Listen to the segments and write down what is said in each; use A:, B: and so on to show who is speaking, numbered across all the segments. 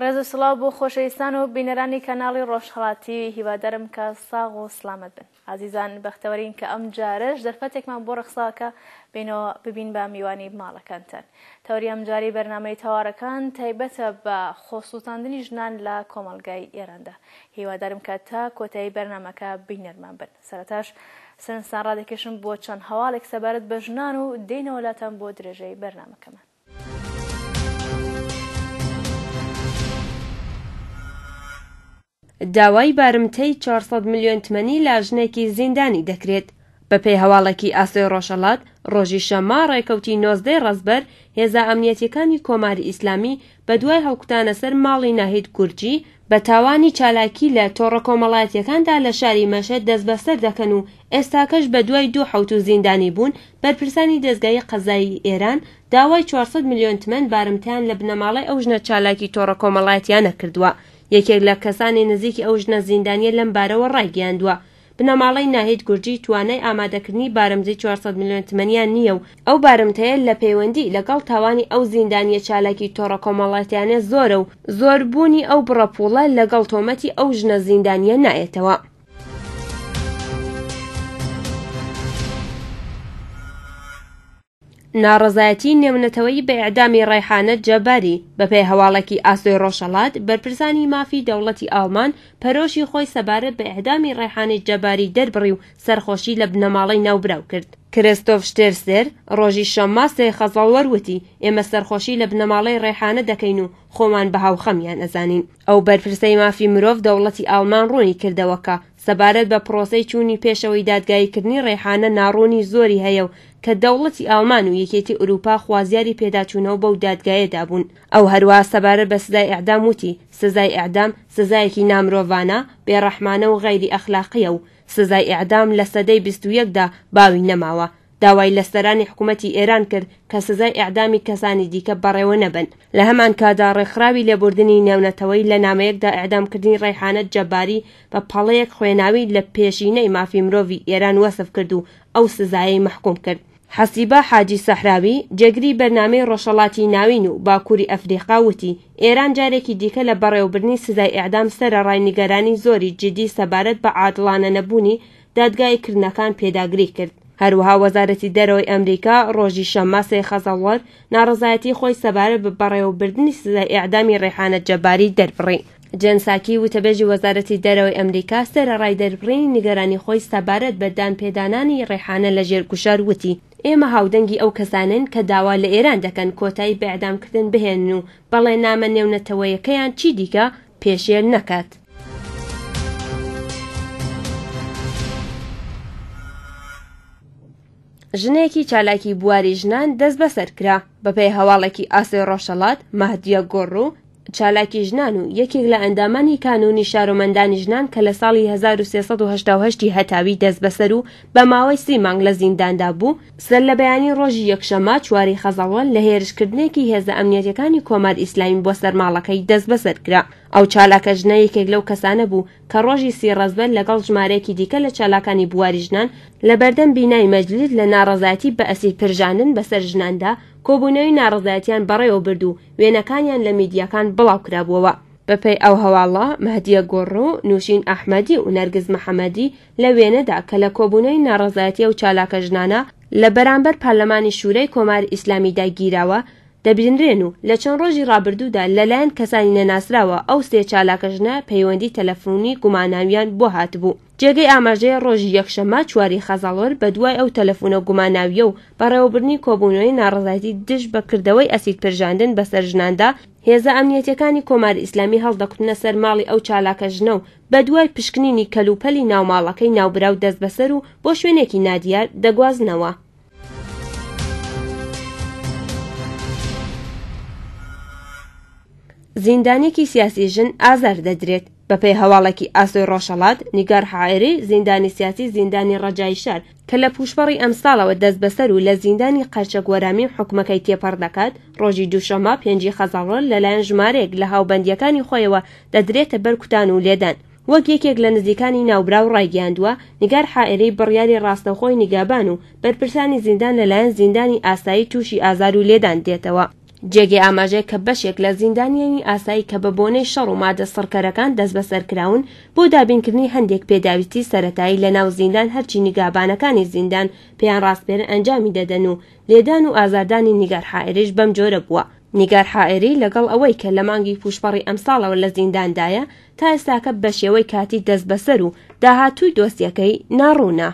A: ڕێز و سڵاو بۆ خۆشەویستان و بینەرانی کەناڵی ڕۆژهەڵات تیوی هیوادارم کە ساغ و سڵامەت بن ئازیزان بەختەوەرین کە ئەم جارەش دەرفەتێکمان بۆ ڕەخسا کە بینەوە ببین بە میوانی ماڵەکانتان تەوری ئەمجاری بەرنامەی تەوارەکان تایبەتە بە خۆسوتاندنی ژنان لە کۆمەڵگای ئێراندا هیوادارم کە تا کۆتایی بەرنامەکە بینەرمان بن سەرتاش سنسان ڕادەکێشم بۆ چەند هەواڵێک سەبارەت بە ژنان و دێنەوە لاتان بۆ درێژەی بەرنامەکەمان
B: داوای بارمتەی 400 ملیۆن تمەنی لە ژنێکی زیندانی دەکرێت بەپێی هەواڵێکی ئاسۆی ڕۆژهەڵات ڕۆژی شەممە ڕێکەوتی نۆزدەی ڕەزبەر هێزا ئەمنیەتەکانی کۆماری ئیسلامی بە دوای هەڵکوتانە سەر ماڵی ناهید گورجی بە تاوانی چالاکی لە تۆڕە کۆمەڵایەتییەکاندا لە شاری مەشهەد دەستبەسەر دەکەن و ئێستاکەش بە دوای دوو حەوتوو زیندانی بوون، بەرپرسانی دەزگای قەزایی ئێران داوای چوار سەد ملیۆن تمەن بارمتەیان لە بنەماڵەی ئەو ژنە چالاکی تۆڕە کۆمەڵایەتییانە کردووە. یەکێک لە کەسانی نزیکی ئەو ژنە زیندانییە لەم بارەوە ڕایگەیاندووە، بنەماڵەی ناهید گورجی توانای ئامادەکردنی بارمتەی چوار سەد ملیۆن تمەنیان نییە و ئەو بارمتەیە لە پەیوەندی لەگەڵ تاوانی ئەو زیندانییە چالاکی تۆڕە کۆمەڵاتیانە زۆرە و زۆر بوونی ئەو بڕە پووڵە لەگەڵ تۆمەتی ئەو ژنە زیندانییە نایەتەوە. ناڕەزایەتی نێونەتەوەیی بە ئێعدامی ڕەیحانە جەباری، بەپێی هەواڵێکی ئاسۆی ڕۆژهەڵات، بەرپرسانی مافی دەوڵەتی ئاڵمان پەرۆشی خۆی سەبارەت بە ئێعدامی ڕەیحانەی جەباری دەربڕی و سەرخۆشی لە بنەماڵەی ناوبراو کرد. کریستۆف شتێرسێر، ڕۆژی شەممە سێ خەزەڵوەر وتی، ئێمە سەرخۆشی لە بنەماڵەی ڕەیحانە دەکەین و خۆمان بە هاوخەمیان ئەزانین. ئەو بەرپرسەی مافی مرۆڤ دەوڵەتی ئاڵمان ڕوونی کردەوە کە، سەبارەت بە پرۆسەی چوونی پێشەوەی دادگاییکردنی ڕەیحانە ناڕوونی زۆری هەیە و کە دەوڵەتی ئاڵمان و یەکێتی ئورووپا خوازیاری پێداچوونەوە بەو دادگایەدا بوون ئەو هەروەها سەبارەت بە سزای ئێعدام وتی سزای ئێعدام سزایەکی نامرۆڤانە، بێڕەحمانە و غەیری ئەخلاقییە و سزای ئێعدام لە سەدەی بیست و یەکدا باوی نەماوە داوای لە سەرانی حکوومەتی ئێران کرد کە سزای ئێعدامی کەسانی دیکە بەڕێوە نەبەن. لە هەمان کاتدا ڕێکخراوی لێبوردنی نێونەتەوەیی لە نامەیەکدا ئێعدامکردنی ڕەیحانە جەباری بە پەڵەیەک خوێناوی لە پێشینەی مافی مرۆڤی ئێران وەسف کرد و ئەو سزایەی مەحکووم کرد. حەسیبە حاجی سەحراوی، جێگری بەرنامەی ڕۆژهەڵاتی ناوین و باکووری ئەفریقا وتی، ئێران جارێکی دیکە لە بەڕێوەبردنی سزای ئێعدام سەرەڕای نیگەرانی زۆری جیدی سەبارەت بە عادڵانەنەبوونی دادگای کردنەکان پێداگری کرد هەروەها وەزارەتی دەرەوەی ئەمریکا ڕۆژی شەممە سێ خەزەڵوەر ناڕەزایەتی خۆی سەبارە بە بەڕێوەبردنی سزای ئێعدامی ڕێحانە جەباری دەربڕی جێن ساکی وتەبێژی وەزارەتی دەرەوەی ئەمریکا سەرەڕای دەربڕینی نیگەرانی خۆی سەبارەت بە دانپێدانانی ڕێحانە لە ژێر گوشار وتی ئێمە هاودەنگی ئەو کەسانەین کە داوا لە ئێران دەکەن کۆتایی بە ئێعدامکردن بهێنن و بەڵێننامە نێونەتەوەیەکەیان چی دیکە پێشێل نەکات. ژنێکی چالاکی بواری ژنان دەست بەسەر کرا بەپێی هەواڵێکی ئاسۆی ڕۆژەڵات مەهدیە گۆڕ و چالاکی ژنان و یەکێک لە ئەندامانی کانونی شارۆمەندانی ژنان کە لە ساڵی 1380 هەتاوی دەست بەسەر و بە ماوەی سی مانگ لە زینداندا بوو سەرلەبەیانیی ڕۆژی یەکشەممە چواری خەزەڵوەن لە هێرشکردنێکی هێزە ئەمنیەتیەکانی کۆمار ئیسلامی بۆ سەر ماڵەکەی دەستبەسەر کرا. ئەو چالاکە ژنە یەکێک لەو کەسانە بوو کە ڕۆژی سی ڕەزبەر لەگەڵ ژمارەیەکی دیکە لە چالاکانی بواری ژنان لە بەردەم بینای مەجلیس لە ناڕەزایەتی بە ئەسیر پرژاندن بەسەر ژناندا کۆبوونەوەی ناڕەزایەتیان بەڕێوە برد و وێنەکانیان لە میدیاکان بڵاو کرابووەوە. بەپێی ئەو هەواڵە، مەهدیە گوڕ و نووشین ئەحمەدی و نەرگس محەمەدی لە وێنەدا کە لە کۆبوونەوەی ناڕەزایەتی ئەو چالاکە ژنانە لە بەرامبەر پارلەمانی شوورای کۆماری ئیسلامیدا گیراوە، دەبینرێن و لە چەند ڕۆژی ڕابردوودا لەلایەن کەسانی نەناسراوە ئەو سێ چالاکە ژنە پەیوەندی تەلەفونی گوماناویان بۆ هاتبوو. جێگەی ئاماژەیە ڕۆژی یەکشەممە چواری خەزەڵوەر بەدوای ئەو تەلەفونە گوماناویە و بەڕێوەبردنی کۆبوونەوەی ناڕەزایەتی دژ بە کردەوەی ئەسید پرژاندن بەسەر ژناندا هێزە ئەمنیەتیەکانی کۆماری ئیسلامی هەڵدەکوتنە سەر ماڵی ئەو چالاکە ژنە و بەدوای پشکنینی کەلوپەلی ناو ماڵەکەی ناوبراو دەستبەسەر و بۆ شوێنێکی نادیار دەگوازنەوە. زیندانیەکی سیاسی ژن ئازار دەدرێت بەپێی هەواڵێکی ئاسۆی ڕۆژهەڵات نیگار حائری زیندانی سیاسی زیندانی ڕەجایی شار کە لە پووشپەڕی ئەمساڵەوە دەستبەسەر و لە زیندانی قەرچەک وەرامی و حوکمەکەی تێپەڕ دەکات، ڕۆژی دووشەممە پێنجی خەزەڵۆر لەلایەن ژمارەیەک لە هاوبەندییەکانی خۆیەوە دەدرێتە بەر کوتان و لێدان. وەک یەکێک لە نزیکانی ناوبراو ڕایگەیاندووە، نیگار حائری بڕیاری ڕاستەوخۆی نیگابان و بەرپرسانی زیندان لەلایەن زیندانی ئاسایی تووشی ئازار و لێدان دێتەوە. جێگەی ئاماژەیە کە بەشێک لە زیندانیانی ئاسایی کە بە بۆنەی شەڕ و مادە سڕکەرەکان دەستبەسەر کراون بۆ دابینکردنی هەندێک پێداویستی سەرەتایی لە ناو زیندان هەرچی نیگابانەکانی زیندان پێیان ڕاسپێرن ئەنجامی دەدەن و لێدان و ئازاردانی نیگار حائریش بەم جۆرە بووە نیگار حائری لەگەڵ ئەوەی کە لە مانگی پووشپەڕی ئەمساڵەوە لە زینداندایە تا ئێستاکە بە شێوەی کاتی دەستبەسەر و داهاتووی دۆسیەکەی ناڕوونە.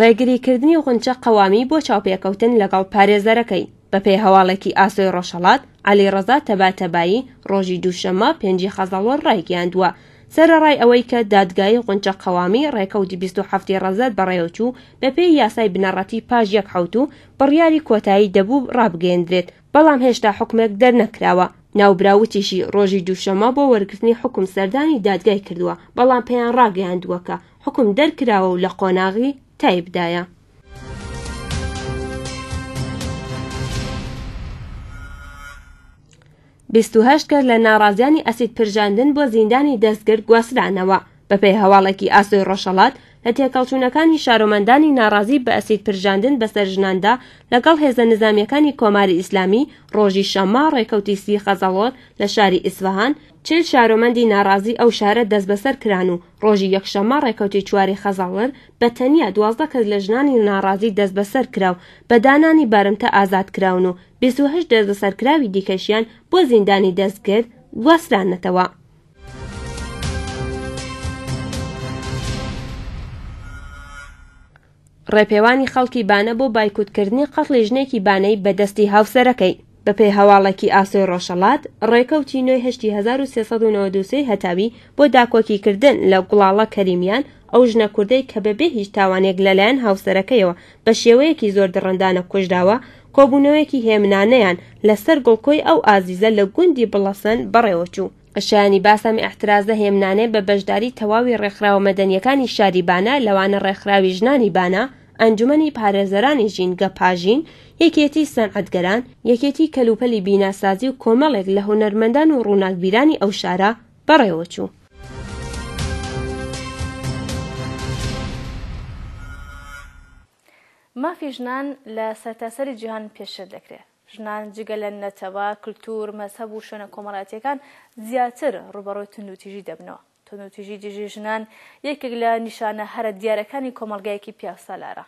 B: ڕێگریکردنی غونچە قەوامی بۆ چاوپێکەوتن لەگەڵ پارێزەرەکەی بەپێی هەواڵێکی ئاسۆی ڕۆژهەڵات علی ڕەزا تەباتەبایی ڕۆژی دووشەممە پێنجی خەزەڵۆر ڕایگەیاندووە سەرەڕای ئەوەی کە دادگایی غونچە قەوامی ڕێکەوتی 27 ڕەزەر بەڕێوەچوو بەپێی یاسای بنەڕەتی پاش یەک حوت و بڕیاری کۆتایی دەبوو ڕابگەیەندرێت بەڵام هێشتا حوکمێک دەرنەکراوە. ناوبراو وتیشی ڕۆژی دووشەممە بۆ وەرگرتنی حوکم سەردانی دادگای کردووە، بەڵام پێیان ڕاگەیاندووە کە حوکم دەرکراوە و لە قۆناغی تایبدایە. بیست و هەشت کەس لە ناڕازیانی ئەسید پرژاندن بۆ زیندانی دەستگر گواسترانەوە. بەپێی هەواڵێکی ئاسۆی ڕۆژهەڵات، لە تێکەڵچوونەکانی شارۆمەندانی ناڕازی بە ئەسید پرژاندن بەسەر ژناندا لەگەڵ هێزە نزامییەکانی کۆماری ئیسلامی، ڕۆژی شەممە ڕێکەوتی سی خەزەڵۆر لە شاری ئیسفەهان، چل شارۆمەندی ناڕازی ئەو شارە دەستبەسەر کران و ڕۆژی یەکشەممە ڕێکەوتی چواری خەزەڵر بە تەنیا دوازدە کەس لە ژنانی ناڕازی دەستبەسەر کرا و بە دانانی بارمتە ئازاد کراون و بیست و هەشت دەستبەسەرکراوی دیکەشیان بۆ زیندانی دەستگرد گواسترانەتەوە. ڕێپێوانی خەڵکی بانە بۆ بایکوتکردنی قەتڵی ژنێکی بانەی بەدەستی هاوسەرەکەی بەپێی هەواڵێکی ئاسۆی ڕۆژهەڵات ڕێکەوتی نوێ هشتی 1393 هەتاوی بۆ داکۆکی کردن لە گوڵاڵە کەریمیان ئەو ژنە کوردەی کە بەبێ هیچ تاوانێک لەلایەن هاوسەرەکەیەوە بە شێوەیەکی زۆر دڕندانە کوژراوە، کۆبوونەوەیەکی هێمنانەیان لە سەر گڵکۆی ئەو ئازیزە لە گوندی بڵەسەن بەڕێوە چوو. شایانی باسە ئەم ئیعترازە هێمنانەیە بە بەشداری تەواوی ڕێکخراوە مەدەنییەکانی شاری بانە لەوانە ڕێکخراوی ژنانی بانە، ئەنجومەنی پارێزەرانی ژینگە پاژین، یەکێتی سەنعەتگەران، یەکێتی کەلوپەلی بیناسازی و کۆمەڵێک لە هونەرمەندان و ڕووناکبیرانی ئەو شارە، بەڕێوەچوو.
A: مافی ژنان لە سەرتاسەری جیهان پێشێل دەکرێت. ژنان جگە لە نەتەوە، کلتور، مەزهەب و شوێنە کۆمەڵاتییەکان زیاتر ڕووبەڕووی توندوتیژی دەبنەوە. توندوتیژی دژی ژنان یەکێک لە نیشانە هەرە دیارەکانی کۆمەڵگایەکی پیاوسالارە.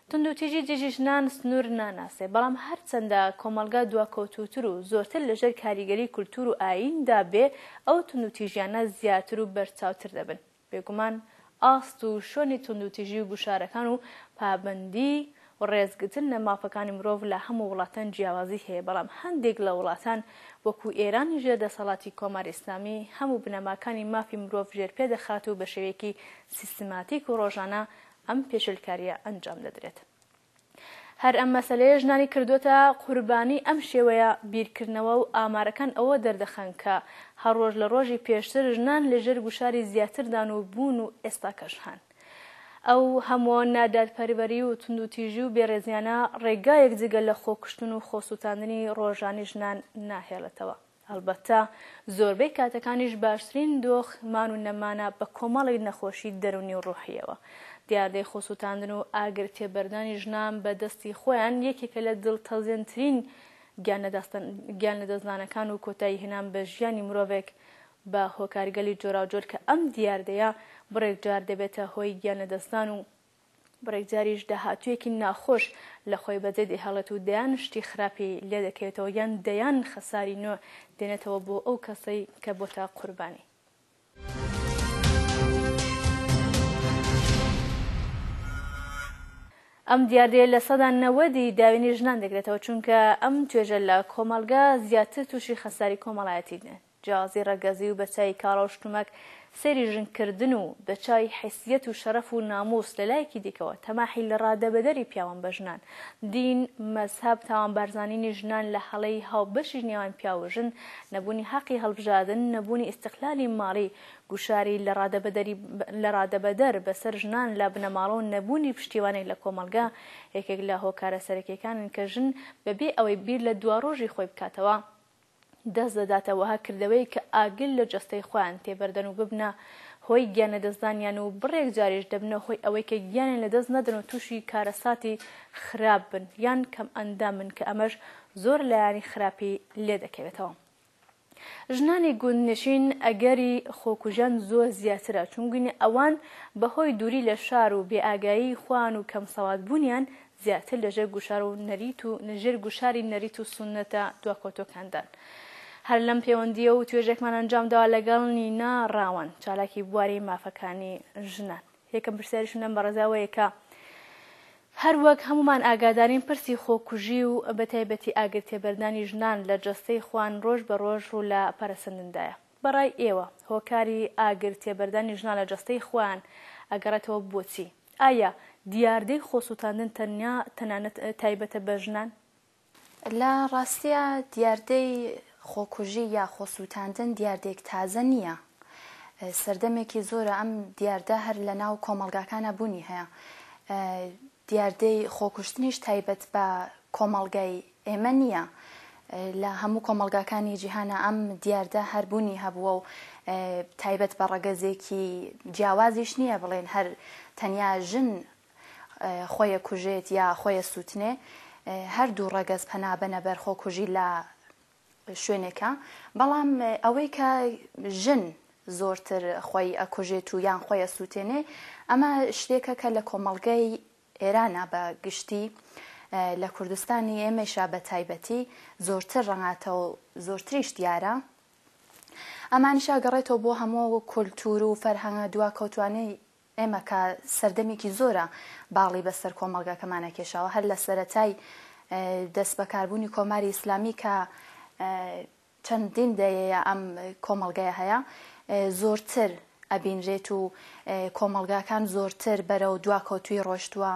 A: توندوتیژی دژی ژنان سنوور ناناسێ، بەڵام هەرچەندە کۆمەڵگا دواکەوتووتر و زۆرتر لەژێر کاریگەری کولتوور و ئاییندا بێ، ئەو توندوتیژیانە زیاتر و بەرچاوتر دەبن. بێگومان ئاست و شۆنی توندوتیژی و گوشارەکان و پابەندی و ڕێزگرتن لە مافەکانی مرۆڤ لە هەموو وڵاتان جیاوازی هەیە، بەڵام هەندێک لە وڵاتان وەکوو ئێرانی ژێر دەسەڵاتی کۆماری ئیسلامی هەموو بنەماکانی مافی مرۆڤ ژێرپێ دەخات و بە شێوەیەکی سیستماتیک و ڕۆژانە ئەم پێشێلکارییە ئەنجام دەدرێت. هەر ئەم مەسەلەیە ژنانی کردووەتە قوربانی ئەم شێوەیە بیرکردنەوە و ئامارەکان ئەوە دەردەخەن کە هەر ڕۆژ لە ڕۆژی پێشتر ژنان لە ژێر گوشاری زیاتردان و بوون و ئێستاکەش هەن. ئەو هەموو نادادپەروەری و توندوتیژی و بێڕێزیانە ڕێگایەک جگە لە خۆکوشتن و خۆسووتاندنی ڕۆژانی ژنان ناهێڵێتەوە. هەڵبەتە زۆربەی کاتەکانیش باشترین دۆخ مان و نەمانە بە کۆمەڵێک نەخۆشی دەروونی و ڕۆحییەوە. دیاردەی خۆسووتاندن و ئاگر تێبەردانی ژنان بە دەستی خۆیان یەکێکە لە دڵتەزێنترین گیان لەدەستدانەکان و کۆتایی هێنان بە ژیانی مرۆڤێک بە هۆکارگەلی جۆراوجۆر کە ئەم دیاردەیە بڕێک جار دەبێتە هۆی گیان لەدەستدان و بڕێک جاریش داهاتوویەکی ناخۆش لە خۆی بەجێ دەهێڵێت و دەیان شتی خراپی لێ دەکەوێتەوە یان دەیان خەساری نوێ دێنێتەوە بۆ ئەو کەسەی کە بۆتە قوربانی. ئەم دیاردەیە لە سەدا نەوەدی داوێنی ژنان دەگرێتەوە، چونکە ئەم توێژە لە کۆمەڵگە زیاتر تووشی خەساری کۆمەڵایەتی دێن. جیازی ڕەگەزی و بەچای کاڵا و شتومەک سەیری ژن کردن و بەچای حیسیەت و شەرەف و نامووس لەلایەکی دیکەوە تەماحی لە ڕادەبەدەری پیاوان بە ژنان، دین، مەزهەب، تاوانبارزانینی ژنان لە هەڵەی هاوبەشی نێوان پیاو و ژن، نەبوونی حەقی هەڵبژادن، نەبوونی ئیستقلالی ماڵی، گوشاری لە ڕادەبەدەری لە ڕادەبەدەر بەسەر ژنان لە بنەماڵە و نەبوونی پشتیوانی لە کۆمەڵگا یەکێک لە هۆکارە سەرەکیەکانن کە ژن بەبێ ئەوەی بیر لە دواڕۆژی خۆی بکاتەوە دەست دەداتە وەها کردەوەیەک کە ئاگر لە جەستەی خۆیان تێبەردەن و ببنە هۆی گیان لەدەستدانیان و بڕێک جاریش دەبنە هۆی ئەوەی کە گیانیان لەدەست نەدەن و تووشی کارەساتی خراپ بن یان کەمئەندام بن کە ئەمەش زۆر لایەنی خراپی لێ دەکەوێتەوە. ژنانی گوندنشین ئەگەری خۆکوژیان زۆر زیاترە چونگونی ئەوان بەهۆی دووری لە شار و بێئاگایی خۆیان و کەمسەوادبوونیان زیاتر لە ژێر گوشار و نەریت و ژێر گوشاری نەریت و سوننەتە دواکەوتووەکاندان. هەر لەم پێوەندییە و توێژێکمان ئەنجام داوە لەگەڵ نینا ڕاوەن، چالاکی بواری مافەکانی ژنان. یەکەم پرسیاریشم لەم بەڕێزە ئەوەیە کە هەر وەک هەموومان ئاگادارین پرسی خۆکوژی و بە تایبەتی ئاگرتێبەردانی ژنان لە جەستەی خوان ڕۆژ بە ڕۆژ ڕوو لە پەرەسەندندایە. بە ڕای ئێوە هۆکاری ئاگرتێبەردانی ژنان لە جەستەی خوان ئەگەڕێتەوە بۆ چی؟ ئایا دیاردەی خۆسووتاندن تەنیا تەنانەت تایبەتە بە ژنان؟ لە
C: ڕاستییا دیاردەی خۆکوژی یا خۆسووتاندن دیاردەیەک تازە نییە. سەردەمێکی زۆرە ئەم دیاردە هەر لە ناو کۆمەڵگاکانا بوونی هەیە. دیاردەی خۆکوشتنیش تایبەت بە کۆمەڵگای ئێمە نییە، لە هەموو کۆمەڵگاکانی جیهانا ئەم دیاردە هەر بوونی هەبووە و تایبەت بە ڕەگەزێکی جیاوازیش نییە بڵێن هەر تەنیا ژن خۆێ کوژێت یا خۆێ سووتنێ، هەر دوو ڕەگەز پەنابەنە بەر خۆکوژی لە شوێنێکا، بەڵام ئەوەی کە ژن زۆرتر خۆی ئەکوژێت و یان خۆێ ئەسووتێنێ ئەمە شتێکە کە لە کۆمەڵگەی ئێرانە بە گشتی لە کوردستانی ئێمەیشا بە تایبەتی زۆرتر ڕەنگاتە و زۆرتریش دیارە ئەمانیشا گەڕێتەوە بۆ هەموو کولتور و فەرهەنگە دواکەوتوانەی ئێمە کە سەردەمێکی زۆرە باڵی بەسەر کۆمەڵگاکەمانە کێشاوە هەر لە سەتای دەست بەکاربوونی کۆماری ئیسلامی کە چەندین دەیەیە ئەم کۆمەڵگەیە هەیە زۆرتر ئەبینرێت و کۆمەڵگاکان زۆرتر بەرەو دواکەوتوویی ڕۆشتووە،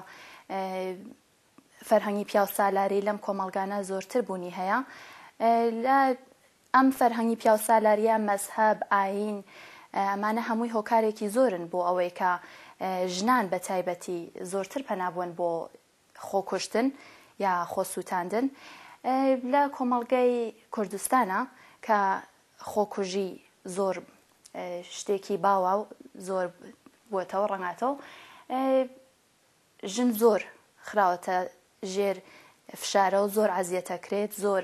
C: فەرهەنگی پیاوسالاری لەم کۆمەڵگانە زۆرتر بوونی هەیە لە ئەم فەرهەنگی پیاوسالاریە مەزهەب، ئایین ئەمانە هەمووی هۆکارێکی زۆرن بۆ ئەوەی کە ژنان بە تایبەتی زۆرتر پەنا بوەن بۆ خۆکوشتن یا خۆسووتاندن لە کۆمەڵگەی کوردستانا کە خۆکوژی زۆر شتێکی باوە و زۆر بووەتەوە ڕەنگاتەوە ژن زۆر خراوەتە ژێر فشارە و زۆر عزیەتە کرێت زۆر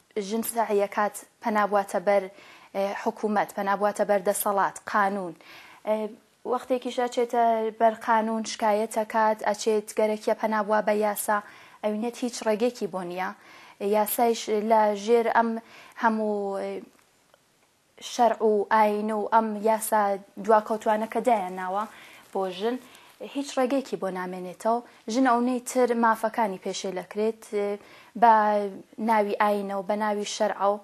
C: ژن سەعیەکات پەنا بواتە بەر حکومەت پەنا بواتە بەر دەسەڵات قانون وەختێکیش ئەچێتە بەر قانون شکایەتەکات ئەچێت گەرەکیە پەنا بوا بە یاسا ئەوینێت هیچ ڕێگێکی بۆ نیە یاسایش لە ژێر ئەم هەموو شەرع و ئاین و ئەم یاسا دواکەوتوانە کە دایان ناوە بۆ ژن هیچ ڕێگەیەکی بۆ نامێنێتەو ژن ئەونەی تر مافەکانی پێشێلەکرێت بە ناوی ئاینەو بە ناوی شەرعەو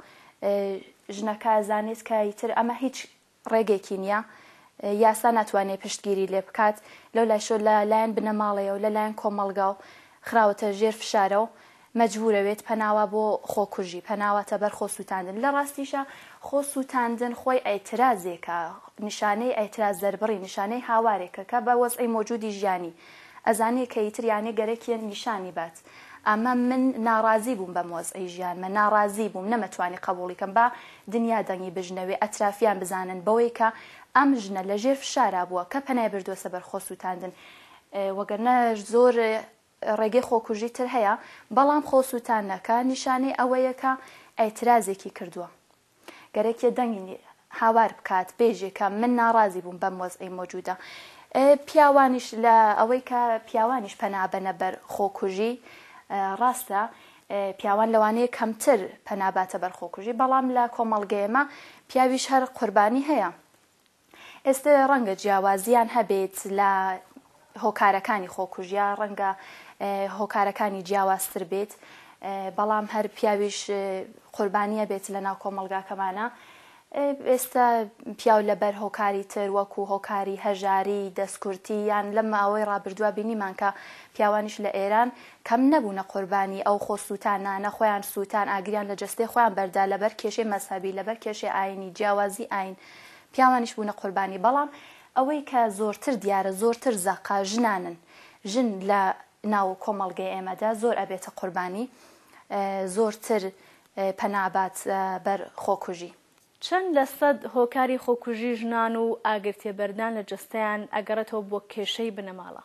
C: ژنەکە زانێت کە ئیتر ئەمە هیچ ڕێگەیەکی نییە یاسا ناتوانێت پشتگیری لێ بکات لەو لایشۆ لە لایەن بنەماڵەیەو لە لایەن کۆمەڵگاو خراوەتە ژێر فشارەو مەجبورەوێت پەناوا بۆ خۆکوژی پەناواتە بەر خۆ سوتاندن لە ڕاستیشا خۆ سوتاندن خۆی ئەیترازێکە نیشانەی ئەیتراز دەربڕی نیشانەی هاوارێکە کە بە وەزعی مۆجودی ژیانی ئەزانێ کە یتر یانێ گەرەکیە نیشانی بات ئەمە من ناڕازی بووم بەم وەزعی ژیانمە ناڕازی بووم نەمەتوانی قەبوڵی کەم با دنیا دەنگی بژنەوێ ئەترافیان بزانن بەوەی کە ئەم ژنە لە ژێر فشارا بووە کە پەنای بردوەسە بەر خۆ سوتاندن وەگەرنا زۆر ڕێگەی خۆکوژی تر هەیە، بەڵام خۆسووتانەکە نیشانەی ئەوەیە کە ئیعترازێکی کردووە. گەرەکیە دەنگی هاوار بکات، بێژێ کە من ناڕازی بووم بەم وەزعەی مۆجوودە. پیاوانیش لە ئەوەی کە پیاوانیش پەنا ئەبەنە بەر خۆکوژی، ڕاستە پیاوان لەوانەیە کەمتر پەنا باتە بەر خۆکوژی، بەڵام لە کۆمەڵگەیەمە پیاویش هەر قوربانی هەیە. ئێستە ڕەنگە جیاوازییان هەبێت لە هۆکارەکانی خۆکوژ یا ڕەنگە هۆکارەکانی جیاوازتر بێت بەڵام هەر پیاویش قوربانیە بێت لە ناو کۆمەلگاکەمانە ئێستا پیاو لەبەر هۆکاری تر وەکو هۆکاری هەژاری دەستکورتی یان لە ماوەی ڕابردووە بینیمان کە پیاوانیش لە ئێران کەم نەبوونە قوربانی ئەو خۆ سووتانانە خۆیان سووتان ئاگریان لە جستەی خۆیان بەردا لەبەر کێشەی مەسەبی لەبەر کێشەی ئاینی جیاوازی ئاین پیاوانیش بوونە قوربانی بەڵام ئەوەی کە زۆرتر دیارە زۆرتر زەقە ژنانن ژن لە ناو کۆمەڵگەی ئێمەدا زۆر ئەبێتە قوربانی زۆرتر پەنابات بەر خۆکوژی. چەند لە
A: سەد هۆکاری خۆکوژی ژنان و ئاگرتێبەردان لە جەستەیان ئەگەڕێتەوە بۆ کێشەی بنەماڵە؟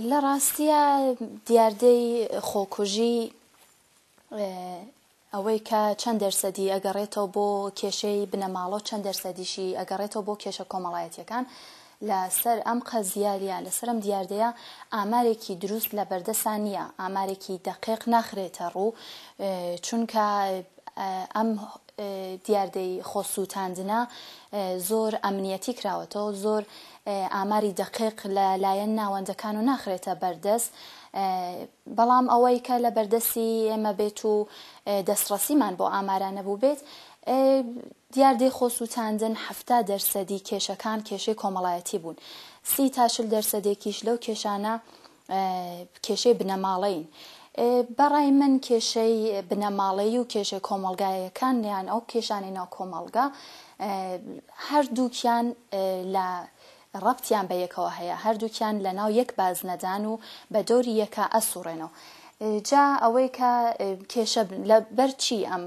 A: لە
C: ڕاستیا دیاردەی خۆکوژی ئەوەی کە چەند دەرسەدی ئەگەڕێتەوە بۆ کێشەی بنەماڵەو چەند دەرسەدیشی ئەگەڕێتەوە بۆ کێشە کۆمەڵایەتیەکان لە سەر ئەم قەزیە یا لە سەر ئەم دیاردەیە ئامارێکی دروست لە بەردەسا نیە ئامارێکی دەقێق ناخرێتە ڕوو چونکە ئەم دیاردەی خۆ سووتاندنە زۆر ئەمنیەتی کراوەتەوە زۆر ئاماری دەقێق لە لایەن ناوەندەکان و ناخرێتە بەردەست بەڵام ئەوەی کە لە بەردەستی ئێمە بێت و دەستڕەسیمان بۆ ئامارانە بووبێت، دیاردەی خۆ سووتاندن حەفتا دەرسەدی کێشەکان کێشەی کۆمەڵایەتی بوون، سی تا چل دەرسەدێکیش لەو کێشانە کێشەی بنەماڵەیین. بە ڕای من کێشەی بنەماڵەیی و کێشەی کۆمەڵگاییەکان یان ئەو کێشانەی ناو کۆمەڵگا هەردووکیان لە ڕەبتیان بە یەکەوە هەیە هەردووکیان لە ناو یەک بازنەدان و بە دەوری یەکا ئەسوڕێنەوە جا ئەوەی کە کێشە لە بەر چی ئەم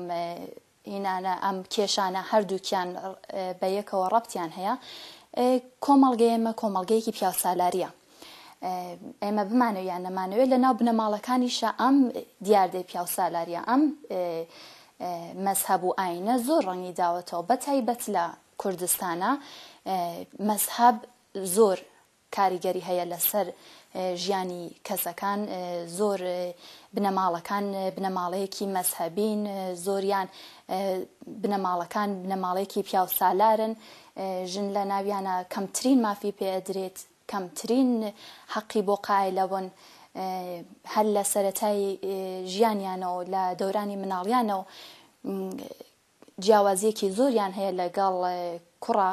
C: هینانە ئەم کێشانە هەردووکیان بە یەکەوە ڕەبتیان هەیە کۆمەڵگە ئێمە کۆمەڵگەیەکی پیاوسالاریە ئێمە بمانەوە یان نەمانەوێت لە ناو بنەماڵەکانیشە ئەم دیاردەی پیاوسالاریە ئەم مەذهب و ئاینە زۆر ڕەنگی داوەتەوە بە تایبەت لە کوردستانە مەزهەب زۆر کاریگەری هەیە لەسەر ژیانی کەسەکان زۆر بنەماڵەکان بنەماڵەیەکی مەزهەبین زۆریان بنەماڵەکان بنەماڵەیەکی پیاو سالارن ژن لە ناویانە کەمترین مافی پێدرێت کەمترین حەقی بۆ قایلەبن هەر لە سەتای ژیانیانەوە لە دەورانی مناڵیانەوە جیاوازیەکی زۆریان هەیە لەگەڵ کوڕە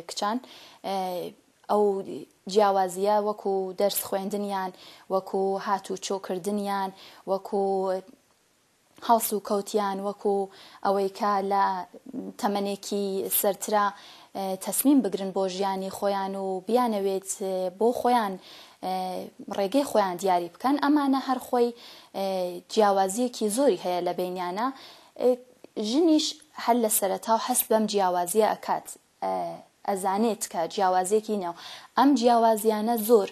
C: کچان ئەو جیاوازیە وەکو دەرس خوێندنیان وەکو هاتو چۆ کردنیان وەکو هەڵس و کەوتیان وەکو ئەوەی کە لە تەمەنێکی سەرترا تەسمیم بگرن بۆ ژیانی خۆیان و بیانەوێت بۆ خۆیان ڕێگەی خۆیان دیاری بکەن ئەمانە هەرخۆی جیاوازیەکی زۆری هەیە لە بینیانە ژنیش هەر لە سەرەتاو هەست بەم جیاوازیە ئەکات ئەزانێت کە جیاوازیەکی نێو ئەم جیاوازیانە زۆر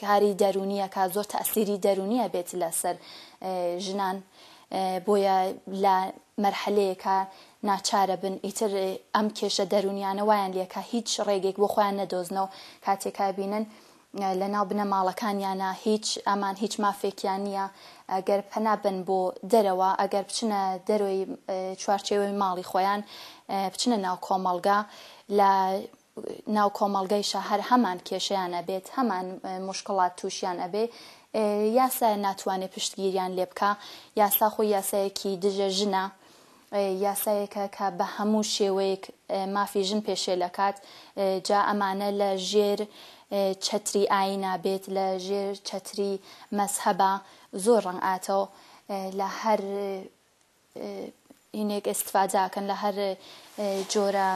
C: کاری دەرونیەکە زۆر تەسیری دەرونیە بێت لەسەر ژنان بۆیە لە مەرحەلەیەکە ناچارە بن ئیتر ئەم کێشە دەرونیانە وایان لەکە هیچ ڕێگێک بۆ خۆیان نەدۆزنەوە کاتێکا بینن لە ناو بنەماڵەکانیانە هیچ ئەمان هیچ مافێکیان نییە گەر پەنا بەن بۆ دەرەوە ئەگەر بچنە دەرۆی چوارچێوەی ماڵی خۆیان بچنە ناو کۆمەڵگا لە ناو کۆمەڵگەیشە هەر هەمان کێشیان ئەبێت هەمان مشکڵات تووشیان ئەبێ یاسایە ناتوانێت پشتگیریان لێ بکە یاسا خۆی یاسایەکی دژە ژنە یاسایەکە کە بە هەموو شێوەیەک مافی ژن پێشێل ئەکات، جا ئەمانە لە ژێر چەتری ئاینا بێت، لە ژێر چەتری مەزهەبا زۆر ڕەنگ ئاتەو لە هەر هینێک ئستفاداکەن لە هەر جۆرە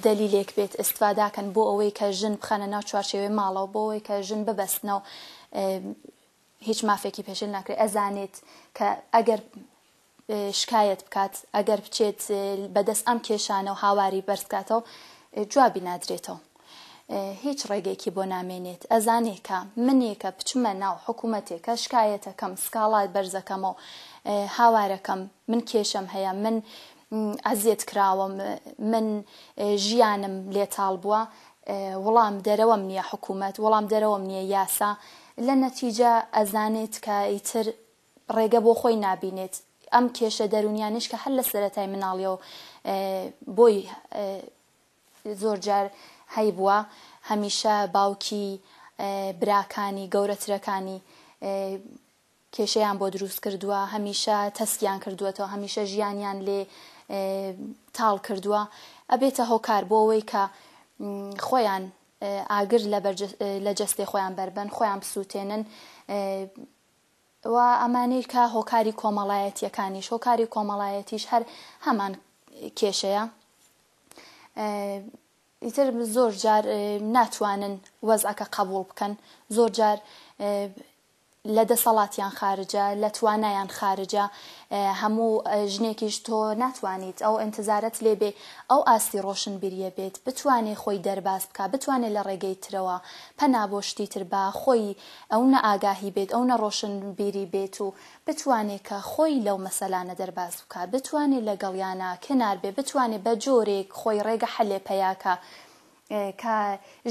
C: دەلیلێک بێت ئستفاداکەن بۆ ئەوەی کە ژن بخەنە ناو چوارچێوەی ماڵەوە بۆ ئەوەی کە ژن ببەستنەوە هیچ مافێکی پێشێل ناکرێت ئەزانێت کە ئەگەر شکایەت بکات ئەگەر بچێت بەدەست ئەم کێشانە و هاواری بەرزکاتەوە جوابی نادرێتەوە هیچ ڕێگەیەکی بۆ نامێنێت ئەزانێکە منێکە بچمە ناو حکوومەتێکە شکایەتەکەم سکاڵات بەرزەکەمەوە هاوارەکەم من کێشەم هەیە من ئازیەت کراوەم من ژیانم لێتاڵ بووە وڵام دەرەوەم نیە حکومەت وڵام دەرەوەم نیە یاسا لە نەتیجە ئەزانێت کە ئیتر ڕێگە بۆ خۆی نابینێت ئەم کێشە دەرونیانش کە هەر لە سەرەتای مناڵیەوە بۆی زۆر جار هەی بووە هەمیشە باوکی براکانی گەورەترەکانی کێشەیان بۆ دروست کردووە هەمیشە تەسکیان کردووەتەوە هەمیشە ژیانیان لێ تاڵ کردووە ئەبێتە هۆکار بۆ ئەوەی کە خۆیان ئاگر لە جەستێ خۆیان بەربەن خۆیان بسووتێنن و ئەمانەی کە هۆکاری کۆمەڵایەتیەکانیش هۆکاری کۆمەڵایەتیش هەر هەمان کێشەیە ئیتر زۆر جار ناتوانن وەزعەکە قبول بکەن زۆر جار لە دەسەڵاتیان خارجە لە توانایان خارجە هەموو ژنێکیش تۆ ناتوانیت ئەو ئەنتزارەت لێ بێ ئەو ئاستی ڕۆشنبیریە بێت بتوانێ خۆی دەرباز بکا بتوانێ لە ڕێگەی ترەوە پەنا بۆ شتی تر با خۆی ئەو نە ئاگاهی بێت ئەو نە ڕۆشنبیری بێت و بتوانێ کە خۆی لەو مەسەلانە دەرباز بکا بتوانێ لەگەڵیانا کنار بێ بتوانێ بە جۆرێک خۆی ڕێگە حەلێ پەیا کا کە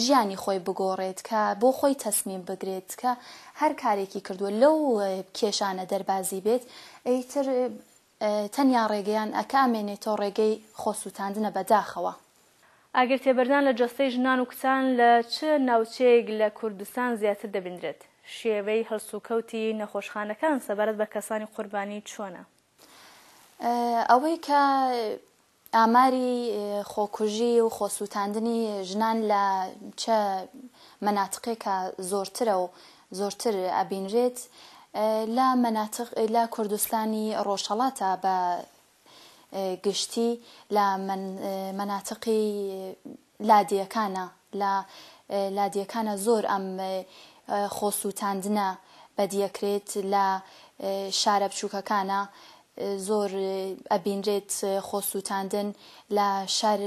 C: ژیانی خۆی بگۆڕێت، کە بۆ خۆی تەسمیم بگرێت، کە هەر کارێکی کردووە لەو کێشانە دەربازی بێت، ئیتر تەنیا ڕێگەیان ئە کە ئەمێنێتەوە ڕێگەی خۆسووتاندنە بە داخەوە. ئاگر
A: تێبەردان لە جەستەی ژنان و کچان لە چ ناوچەیەک لە کوردستان زیاتر دەبیندرێت؟ شێوەی هەڵسوکەوتی نەخۆشخانەکان سەبارەت بە کەسانی قوربانی چۆنە؟
C: ئەوەی کە ئاماری خۆکوژی و خۆسووتاندنی ژنان لە چ مەناتقێکا زۆرترە و زۆرتر ئەبینرێت؟ لە مەناتق لە کوردستانی ڕۆژهەڵاتا بە گشتی، لە مەناتقی لادێکانە لە لادێکانە زۆر ئەم خۆ سووتاندنە بەدیەکرێت لە شارە بچووکەکانە زۆر ئەبینرێت خۆ سووتاندن لە شار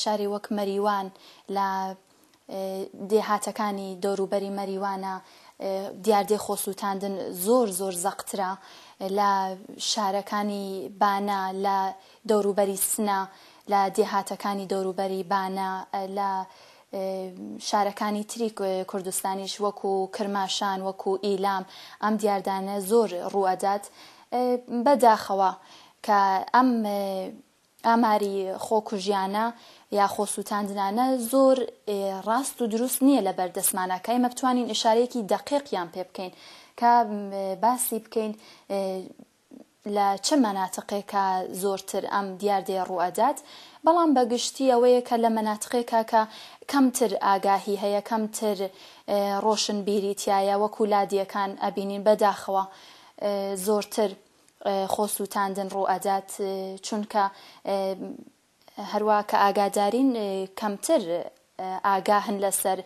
C: شاری وەک مەریوان لە دێهاتەکانی دەوروبەری مەریوانە دیاردەی خۆ سووتاندن زۆر زۆر زەقترە لە شارەکانی بانە لە دەوروبەری سنە، لە دێهاتەکانی دەوروبەری بانە، لە شارەکانی تری کوردستانیش وەکو کرماشان، وەکو ئیلام ئەم دیاردانە زۆر ڕوو ئەدات. بە داخەوە کە ئەم ئاماری خۆکوژیانە یا خۆسوتاندنانە زۆر ڕاست و دروست نیە لە بەر دەستمانا کە ئێمە بتوانین ئشارەیەکی دەقیق یان پێ بکەین کە باسی بکەین لە چ مەناتقێکا زۆرتر ئەم دیاردەیە ڕووئەدات، بەڵام بە گشتی ئەوەیە کە لە مەناتقێکا کە کەمتر ئاگاهی هەیە، کەمتر ڕۆشنبیری تیایە، وەکوو لادێکان ئەبینین، بە داخەوە زۆرتر خۆسووتاندن ڕووئەدات، چونکە هەروا کە ئاگادارین کەمتر ئاگاهن لەسەر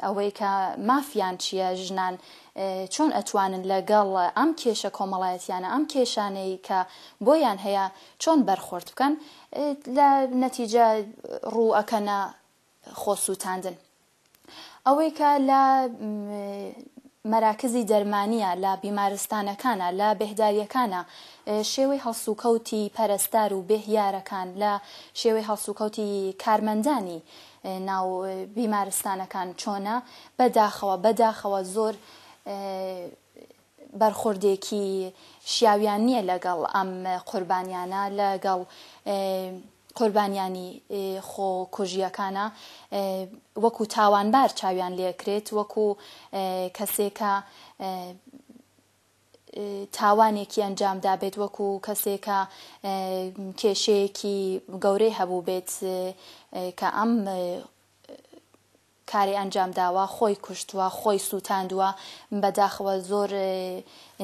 C: ئەوەی کە مافیان چیە، ژنان چۆن ئەتوانن لەگەڵ ئەم کێشە کۆمەڵایەتیانە، ئەم کێشانەی کە بۆیان هەیە چۆن بەرخۆرد بکەن، لە نەتیجە ڕوو ئەکەنە خۆ سوتاندن. ئەوەی کە لە مەراکزی دەرمانییە، لە بیمارستانەکانە، لە بێهدارییەکانە، شێوەی هەڵسوکەوتی پەرستار و بێهیارەکان، لە شێوەی هەڵسوکەوتی کارمەندانی ناو بیمارستانەکان چۆنە، بە داخەوە، بە داخەوە زۆر. بەرخوردێکی شیاویان نیە لەگەڵ ئەم قوربانیانە لە گەڵ قوربانیانی خۆ کوژیەکانە وەکو تاوانبار چاویان لێکرێت وەکو کەسێکە تاوانێکی ئەنجام دابێت وەکو کەسێکە کێشەیەکی گەورەی هەبوو بێت کە ئەم کاری ئەنجام داوە خۆی کوشتوە خۆی سوتاندوە بەداخەوە زۆر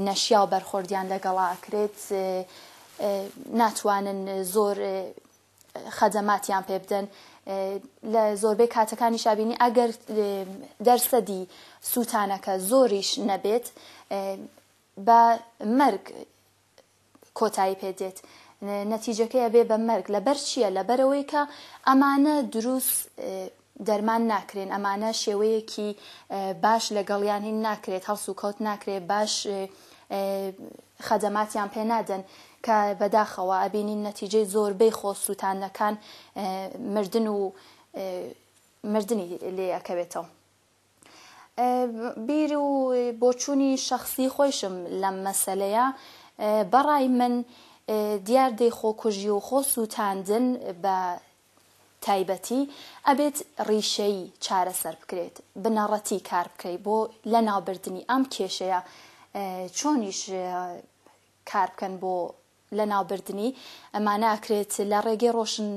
C: نەشیاو بەرخۆردیان لەگەڵا ئەکرێت ناتوانن زۆر خەدەماتیان پێ بدەن لە زۆربەی کاتەکانی شابینی ئەگەر دەرسەدی سووتانەکە زۆریش نەبێت بە مەرگ کۆتایی پێ دێت نەتیجەکەی ئەبێ بە مەرگ لەبەر چییە لەبەرەوەی کە ئەمانە دروست دەرمان ناکرێن ئەمانە شێوەیەکی باش لەگەڵیان هین ناکرێت هەڵس و کەوت ناکرێت باش خەدەماتیان پێ نادەن کە بەداخەوە ئەبینین نەتیجەی زۆربەی خۆ سووتانەکان مردن و مردنی لێ ئەکەوێتەوە بیر و بۆچوونی شەخسی خۆیشم لەم مەسەلەیە، بە ڕای من دیاردەی خۆکوژی و خۆ سووتاندن بە تایبەتی ئەبێت ڕیشەیی چارەسەر بکرێت، بنەڕەتی کار بکرێت بۆ لە ناو بردنی ئەم کێشەیە، چۆنیش کار بکەن بۆ لەناوبردنی، ئەما ناکرێت لە ڕێگەی ڕۆشن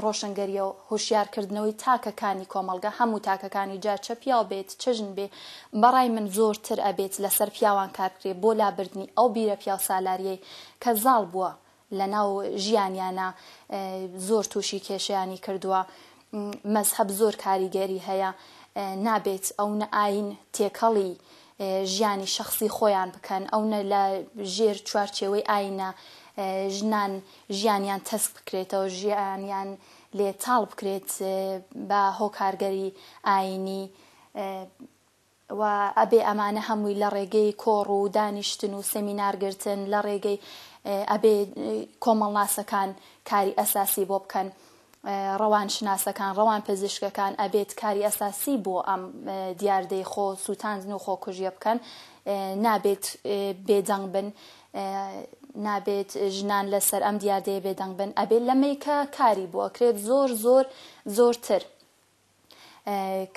C: ڕۆشنگەریەوە هۆشیار کردنەوەی تاکە کانی کۆمەڵگە هەموو تاکەکانی جا چە پیاو بێت چە ژن بێ بەڕای من زۆر تر ئەبێت لەسەر پیاوان کار بکرێ بۆ لابردنی ئەو بیرە پیاوسالاریەی کە زاڵ بووە لەناو ژیانیانا زۆر توشی کێشەیانی کردووە مەزهەب زۆر کاریگەری هەیە نابێت ئەونە ئاین تێکەڵی ژیانی شەخسی خۆیان بکەن ئەو نە لە ژێر چوارچێوەی ئاینە ژنان ژیانیان تەسک بکرێتەوە ژیانیان لێ تاڵ بکرێت بە هۆکارگەری ئاینی و ئەبێ ئەمانە هەمووی لە ڕێگەی کۆڕ و دانیشتن و سەمینارگرتن لە ڕێگەی ئەبێ کۆمەڵناسەکان کاری ئەساسی بۆ بکەن ڕەوانشناسەکان، ڕەوانپزیشکەکان ئەبێت کاری ئەساسی بۆ ئەم دیاردەی خۆ سوتاندن و خۆکوژیە بکەن، نابێت بێدەنگ بن، نابێت ژنان لەسەر ئەم دیاردەیە بێدەنگ بن، ئەبێت لەمەیکە کاری بۆ ئەکرێت زۆر زۆر زۆرتر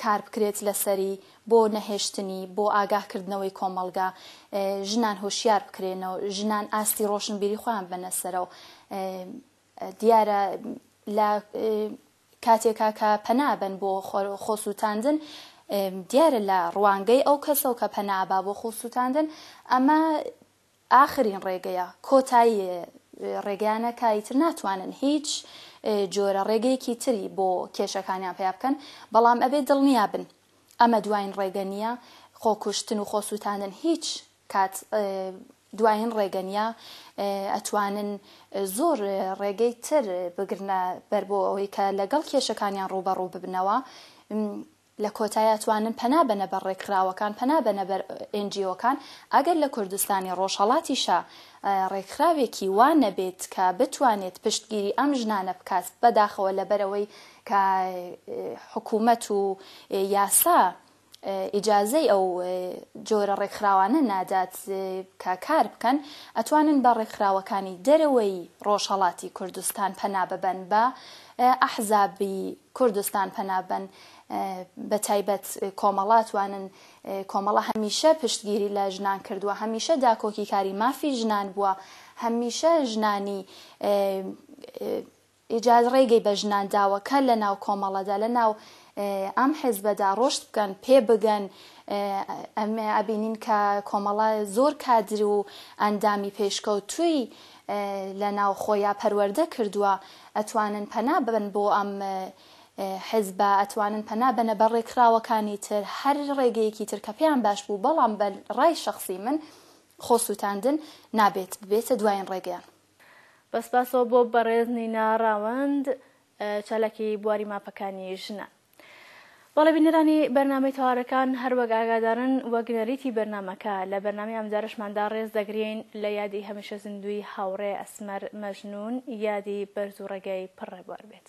C: کار بکرێت لەسەری بۆ نەهێشتنی بۆ ئاگاهکردنەوەی کۆمەڵگا ژنان هۆشیار بکرێنەوە ژنان ئاستی ڕۆشنبیری خۆیان بەنەسەرەوە دیارە لە کاتێکا کە پەنا ئەبەن بۆ خۆسووتاندن، دیارە لە ڕوانگەی ئەو کەسە و کە پەنا ئەبا بۆ خۆسووتاندن، ئەمە ئاخرین ڕێگەیە، کۆتایی ڕێگەیانە کە ئیتر ناتوانن هیچ جۆرە ڕێگەیەکی تری بۆ کێشەکانیان پەیا بکەن، بەڵام ئەبێ دڵنیا بن ئەمە دواین ڕێگە نییە، خۆکوشتن و خۆسووتاندن هیچ کات دواین ڕێگەنیە ئەتوانن زۆر ڕێگەی تر بگرنە بەر بۆ ئەوەی کە لەگەڵ کێشەکانیان ڕووبەڕوو ببنەوە لە کۆتای ئەتوانن پەنا بەنە بەر ڕێکخراوەکان پەنا بەنە بەر ئێنجیۆکان ئەگەر لە کوردستانی ڕۆژهەڵاتیشا ڕێکخراوێکی وا نەبێت کە بتوانێت پشتگیری ئەم ژنانە بکات بەداخەوە لەبەرەوەی کە حکوومەت و یاسا ئیجازەی ئەو جۆرە ڕێکخراوانە نادات کە کار بکەن، ئەتوانن بە ڕێکخراوەکانی دەرەوەی ڕۆژهەڵاتی کوردستان پەنا ببەن، بە ئەحزابی کوردستان پەنا ببەن، بە تایبەت کۆمەڵە ئەتوانن، کۆمەڵە هەمیشە پشتگیری لە ژنان کردووە، هەمیشە داکۆکیکاری مافی ژنان بووە، هەمیشە ژنانی ئیجاز ڕێگەی بە ژنان داوە کە لە ناو کۆمەڵەدا لە ناو ئەم حزبەدا ڕۆشت بکەن پێ بگەن ئەمێ ئەبینین کە کۆمەڵە زۆر کادر و ئەندامی پێشکەوتووی لە ناو خۆیا پەروەردە کردووە ئەتوانن پەنا ببن بۆ ئەم حزبە ئەتوانن پەنا بەنە بە ڕێکخراوەکانی تر هەر ڕێگەیەکی تر کە پێیان باش بوو بەڵام بە ڕای شخصی من خۆ سووتاندن نابێت ببێتە دوایین ڕێگەیان بە سپاسەوە
A: بۆ بەڕێز نینا ڕاوەند چالاکی بواری ماپەکانی ژنان. بەڵێ بینەرانی بەرنامەی تەوارەکان هەروەک ئاگادارن وەک نەریتی بەرنمەکە لە بەرنامی ئەمجارشماندا ڕێز دەگرین لە یادی هەمیشە زیندووی هاوڕێ ئەسمەر مەژنوون یادی بەرز و ڕێگای پڕ ڕێبوار بێت.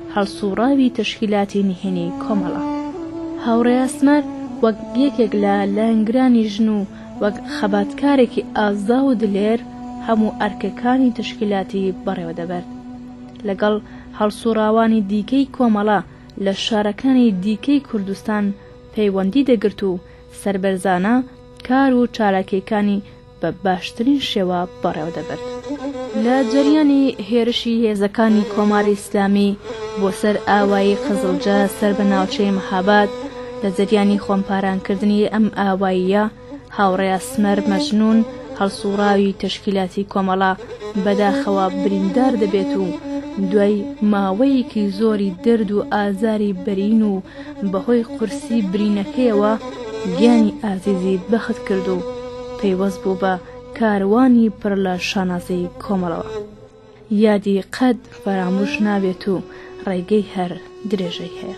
A: هەڵسووڕاوی تەشکیلاتی نهێنی کۆمەڵە. هاوڕێ ئاسمەر وەک یەکێک لە لایەنگرانی ژن و وەک خەباتکارێکی ئازا و دلێر هەموو ئەرکەکانی تەشکیلاتی بەڕێوە دەبرد. لەگەڵ هەڵسووڕاوانی دیکەی کۆمەڵە لە شارەکانی دیکەی کوردستان پەیوەندی دەگرت و سەربەرزانە کار و چالاکییەکانی بە باشترین شێوە بەڕێوەدەبرد. لە جەریانی هێرشی هێزەکانی کۆماری ئیسلامی بۆ سەر ئاوایی قزڵجە سەر بە ناوچەی مەهاباد، لە جەریانی خۆمپارانکردنی ئەم ئاواییە، هاوڕێ ئەسمەر مەجنوون، هەڵسووڕاوی تەشکیلاتی کۆمەڵە، بەداخەوە بریندار دەبێت و دوای ماوەیەکی زۆری دەرد و ئازاری بەرین و بەهۆی قورسی برینەکەیەوە گیانی ئازیزی بەخت کرد و پەیوەست بوو بە کاروانی پڕ لە شانازی کۆمەڵەوە. یادی قەت فەراموش نابێت و ڕێگەی هەر درێژەی هەیە.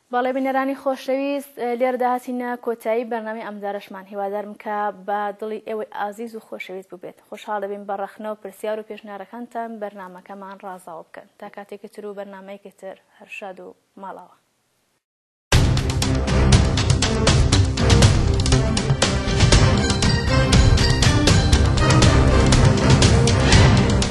A: بەڵێ بینەرانی خۆشەویست لێرەدا هاتینە کۆتایی بەرنامەی ئەمجارەشمان هیوادارم کە بە دڵی ئێوەی ئازیز و خۆشەویست بووبێت خۆشحاڵ دەبین بە ڕەخنە و پرسیار و پێشنیارەکانتان بەرنامەکەمان ڕازاوە بکەن تا کاتێکی تر و بەرنامەیەکی تر هەر شاد و ماڵاوە